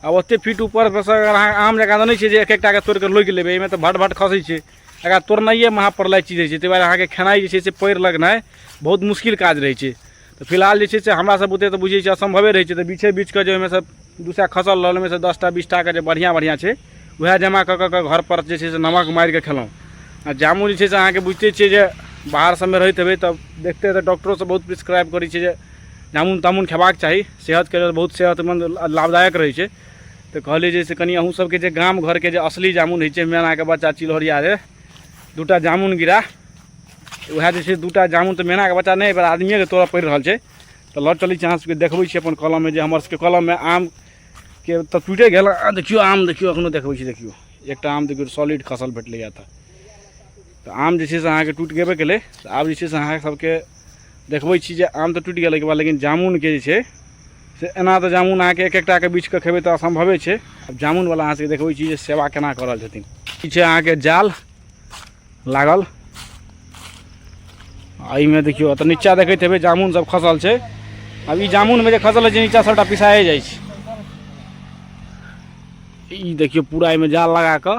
आ ओतेक फीट ऊपर परसँ अगर अहाँ आम जकाँ तऽ नहि छै जे एक एकटाके तोड़ि कऽ लोकि लेबै एहिमे तऽ भट भट खसै छै एकरा तोड़नाइए महाप्रलय चीज होइ छै ताहि दुआरे अहाँके खेनाइ जे छै से पएर लगनाइ बहुत मुश्किल काज रहै छै तऽ फिलहाल जे छै से हमरासभ बुते तऽ बुझै छियै असम्भवे रहै छै तऽ बीछे बीछ कऽ जे ओहिमे सँ दू सए खसल रहल ओहिमे सँ दस टा बीस टाके जे बढ़िआँ बढ़िआँ छै उएह जमा कऽ कऽ कऽ घरपर जे छै से नमक मारि कऽ खेलहुँ आ जामुन जे छै से अहाँके बुझिते छियै जे बाहर सभमे रहैत हेबै तऽ देखते हेबै डॉक्टरोसभ बहुत प्रिस्क्राइब करै छै जे जामुन तामुन खयबाक चाही सेहतके लेल बहुत सेहतमन्द आ लाभदायक रहै छै तऽ कहलियै जे से कनि अहूँ सबके जे गाम घरके जे असली जामुन होइ छै मेनाके बच्चा चिलहरिया रे दूटा जामुन गिरा उएह जे छै दूटा जामुन तऽ मेनाके बच्चा नहि एहिबेर आदमिएके तोड़य पड़ि रहल छै तऽ लऽ चलै छी अहाँ सबके देखबै छी अपन कलममे जे हमर सबके कलममे आमके तऽ टूटे गेल आ देखियौ आम देखियौ एखनो देखबै छी देखियौ एकटा आम देखियौ सॉलिड खसल भेटलैए तऽ तऽ आम जे छै से अहाँके टूटि गेबे केलै तऽ आब जे छै से अहाँ सबके देखबै छी जे आम तऽ टूटि गेलै के बाद लेकिन जामुनके जे छै से एना तऽ जामुन अहाँके एक एकटाके बीछके खेबै तऽ असम्भवे छै आब जामुनवला अहाँ सबके देखबै छी जे सेवा केना कऽ रहल छथिन ई छै अहाँके जाल लागल आ एहिमे देखियौ तऽ नीचा देखैत हेबै जामुन सब खसल छै आब ई जामुनमे जे खसल छै नीचा सबटा पिसाए जाइ छै ई देखियौ पूरा एहिमे जाल लगा कऽ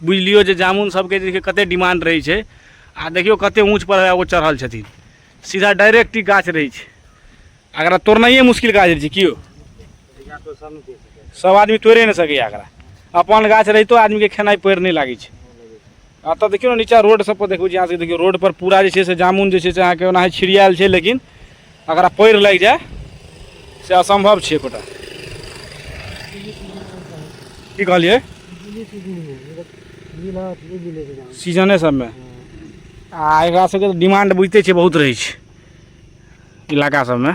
बुझि लियौ जे जामुन सबके जे कते डिमांड रहै छै आ देखियौ कते ऊँच पर ओ चढ़ल छथिन सीधा डायरेक्ट ई गाछ रहै छै एकरा तोड़नाइए मुश्किल काज रहै छै की यौ सब आदमी तोड़े नहि सकैए एकरा अपन गाछ रहितो आदमीके खेनाइ पड़ि नहि लागै छै एतऽ देखियौ ने नीचाँ रोड सब पर देखू जे अहाँ सबके देखियौ रोड पर पूरा जे छै से जामुन जे छै से अहाँके ओनाही छिड़ियाएल छै लेकिन अगरा पयर लागि जाय से असम्भव छै एकोटा की कहलियै सीजने सबमे आ एकरा सबके तऽ डिमांड बुझिते छै बहुत रहै छै इलाका सबमे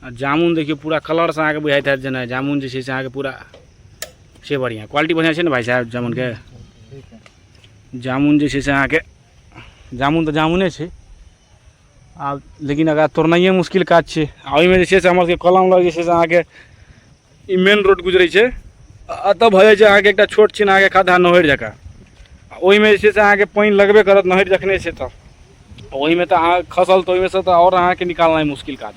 आ जामुन देखियौ पूरा कलरसँ अहाँके बुझाइत हैत जेना जामुन जे छै से अहाँके पूरा से बढ़िआँ क्वालिटी बढ़िआँ छै ने भाइ साहब जामुनके जामुन जे छै से अहाँके जामुन तऽ जामुने छै आब लेकिन एकरा तोड़नाइए मुश्किल काज छै आ ओहिमे जे छै से हमर सबके कलम लग जे छै से अहाँके ई मेन रोड गुजरै छै एतऽ भऽ जाइ छै अहाँके एकटा छोट छिन अहाँके खद्धा नहरि जकाँ आ ओहिमे जे छै से अहाँके पानि लगबे करत नहरि जखने छै तऽ ओहिमे तऽ अहाँ खसल तऽ ओहिमे से तऽ आओर अहाँके निकालनाइ मुश्किल काज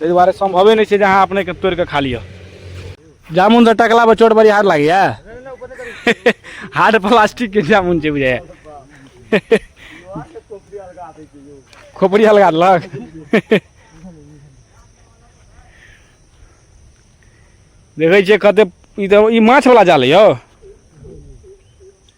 ताहि दुआरे सम्भवे नहि छै जे अहाँ अपनेके तोड़ि कऽ खा लिअ जामुन से टकला पर चोट बड़ी हार लागे हार्ड प्लास्टिक के जामुन छै बुझे खोपड़ी हल्का देलक देखै छियै कते ई तऽ ई माछ वाला जाल यौ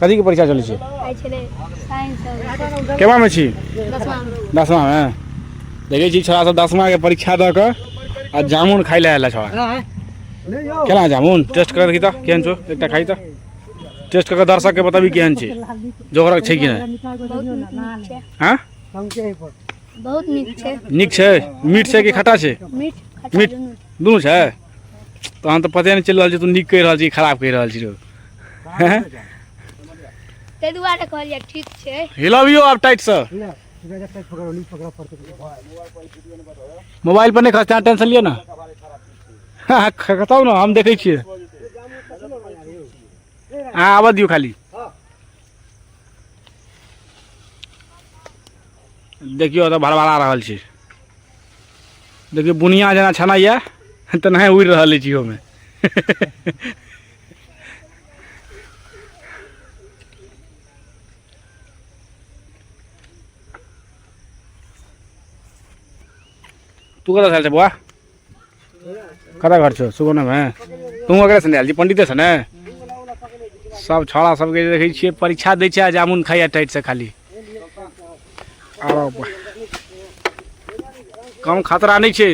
कथी के परीक्षा चलै छै आइ छलै साइंस आओर केमा में छी दसमा दसमा में देखै छी छोरा सब दसमा के परीक्षा दऽ कऽ आ जामुन खाइ लए आयल छोरा केना जामुन टेस्ट कर देखी तऽ केहन छौ एकटा खाइ तऽ टेस्ट कऽ के दर्शक के बताबी केहन छै जोगरक छै कि नहि बहुत नीक छै हाँ बहुत नीक छै नीक छै मीठ छै कि खट्टा छै मीठ खट्टा मीठ। दुनू छै दुनू छै तहन तऽ पते नहि चलि रहल छै तू नीक कहि रहल छी कि खराब कहि रहल छी रौ हैं? ताहि दुआरे कहलियै ठीक छै हिलाबियो आब टाइट से मोबाइल पर नहीं खसते अहाँ टेंशन लियो ना हाँ, ख- खसाउ ना हम देखे छिए हाँ आबऽ दियो खाली देखियो तऽ भड़बड़ा रहल छी देखियो बुनिया जेना छनाइए तेनाहे उड़ि रहल अछि ओहिमे तू कता थाल छ बुवा कता घर छौ सुगौनामे तू अगरे छ हाल पण्डिते छ ने सब छोड़ा सबके देखै छियै परीक्षा दै छै जामुन खाइया टाइट से खाली कम खतरा नहीं है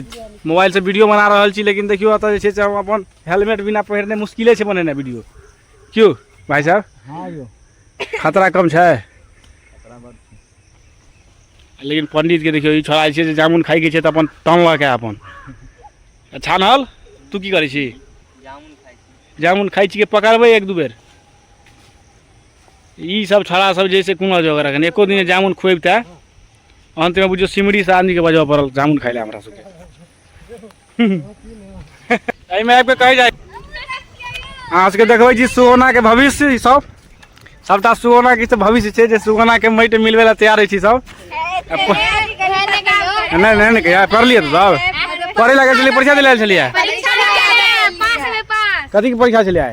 मोबाइल से वीडियो बना रहा छी लेकिन देखियो अतः जे अपन हेलमेट बिना पहिरने मुश्किले छै बनेनाइ वीडियो क्यों भाई साहब हाँ यो खतरा कम छै लेकिन पंडित के देखियो ई छोड़ा छै जे जामुन खाइ के छै तऽ अपन टनलक है अपन अच्छा नल तू की करै छी जामुन खाइ छी जामुन खाइ छी के पकड़बै एक दू बेर ई सब छोड़ा सब जैसे कोनो जगह रखन एको दिन जामुन खुएबते अंत में बुझियो सिमरी से आदमी के बजबऽ पड़ल जामुन खाइ ले हमरा सबके एहिमे आबि कऽ कहै जाइ अहाँ सबके देखबै छी सुगौनाके भविष्य ई सब सबटा सुगौनाके ई सब भविष्य छै जे सुगौनाके माटि मिलबै लए तैयार होइ छी सब नहि नहि नहि कहिया पढ़लियै तऽ सब पढ़ै लए गेल छलियै परीक्षा दिलायल छलियै कथीके परीक्षा छलियै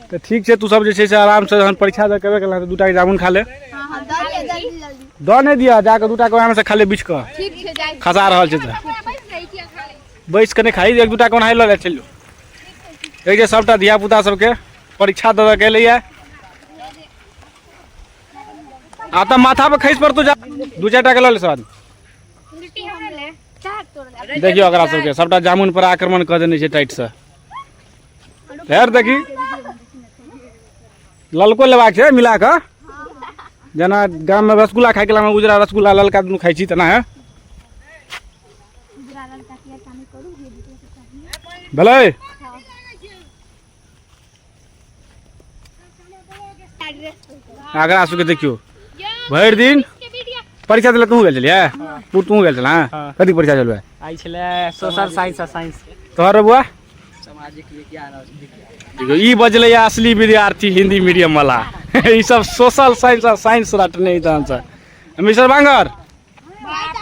तऽ ठीक छै तू सब जे छै से आरामसँ जहन परीक्षा दऽ केबे केला तऽ दू टाके जामुन खा ले हाँ हाँ दे दिया जल्दी जल्दी दऽ नहि दिअ जाकऽ दू टाके ओहिमे से खा ले बीछ कऽ ठीक छै जाइ खसा रहल छै तऽ बैस कऽ नहि खाइ एक दू टाके ओनाहि लऽ ले चलि जो एक जे सभटा धियापुता सभके परीक्षा दऽ दऽ के एलैए आ तऽ माथापर खसि पड़तौ जा दू चारि टाके लऽ ले सर देखियौ एकरा सभके सभटा जामुन पर आक्रमण कऽ देने छै टाइटसँ फेर देखी ललको लेबाक छै मिला कऽ जेना गाममे रसगुल्ला खाइके लामे उजरा रसगुल्ला ललका दुनू खाइ छी तेना है भेलै आगरा आसू के देखियो भरि दिन परीक्षा देलक तू गेल छलियै तू तू गेल छल कथी परीक्षा चलबै आई छलै सोशल साइंस आ साइंस तोहर बुआ सामाजिक विज्ञान और देखियो ई बजलै असली विद्यार्थी हिंदी मीडियम वाला ई सब सोशल साइंस आ साइंस रटने इधर से मिस्टर बांगर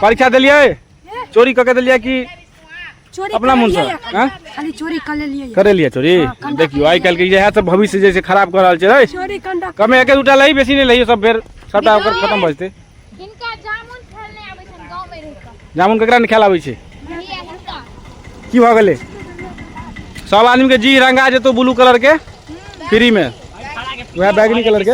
परीक्षा दिलियै चोरी कऽ के दिलियै कि चोरी अपना कर मुँहसँ, लेलियै या? आँय? खाली चोरी कर लेलियै या। करे लियै चोरी देखियौ आइ काल्हिके इएह सब भविष्य जे छै खराब कऽ रहल छै रे चोरी कंडा कमे एके दूटा लही बेसी नहि लही सब फेर सबटा ओकर खतम भऽ जेतै हिनका जामुन फल नहि आबै छनि गाँवमे रहि कऽ जामुन केकरा नहि खायल आबै छै भैया हिनका की भऽ गेलै सब आदमीके जी रंगा जेतौ ब्लू कलरके फ्रीमे उएह बैगनी कलरके